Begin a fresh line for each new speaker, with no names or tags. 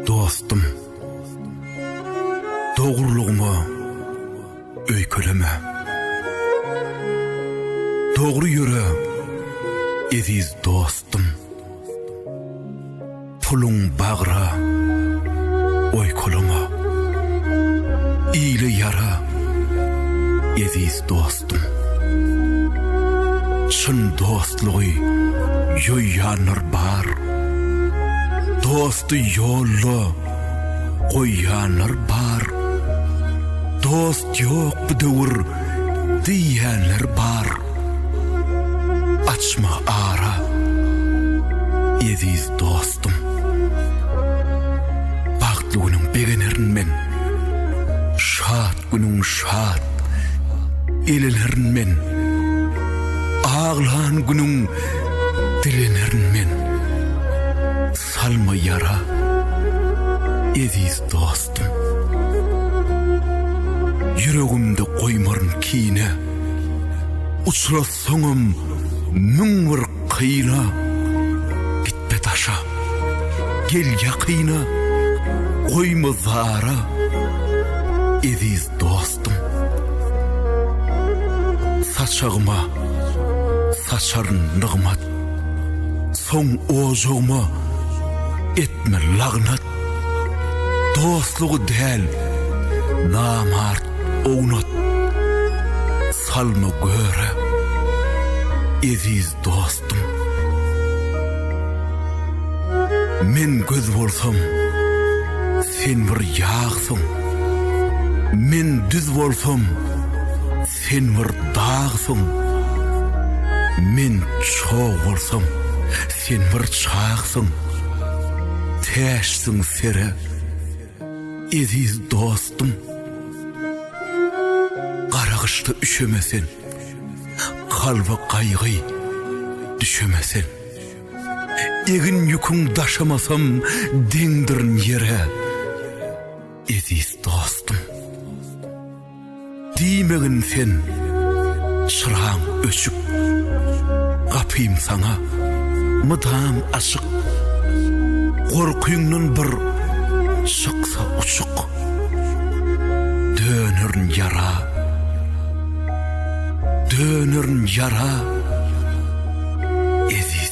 Dostum, dogrulygyma öýkeleme. Dogry ýöre, eziz dostum. Puluň bagra, oýkalama. Ile ýara, eziz dostum. Çyn dostlugy ýoýýanlar bar. Dosty ýolda goýýanlar bar. Dost ýok bu döwür diýýänler bar. Açma ara, eziz dostum. Bagtly günüň begenerin men, Şat günüň şat elenerin men, Aglan günüň dilenerin men. Salma ýara, eziz dostum. Ýüregimde goýmaryn kine. Uçrasaňam müň bir kyna. Gitme daşa, gel ýakyna. Goýma zara, eziz dostum. Saçagyma saçaryn nygmat. Soň ojagyma etme lagnat, Dostlugy däl, namart ownat. Salma göre, eziz dostum. Men göz bolsam, sen bir ýagsyň, Men düz bolsam, Sen bir dagsyň, men çog bolsam, sen bir çagsyň, täşsiň sere, eziz dostum. Gara gyşda üşeme sen, kalba gaýgy düşeme sen. Egin ýüküň daşamasam deňdirin ýere, eziz dostum. Diýmegin sen, çyraň öçük, Gapym saňa mydam açyk. Gorkyňdan bir çyksa uçuk, Dönerin ýara, dönerin ýara, eziz.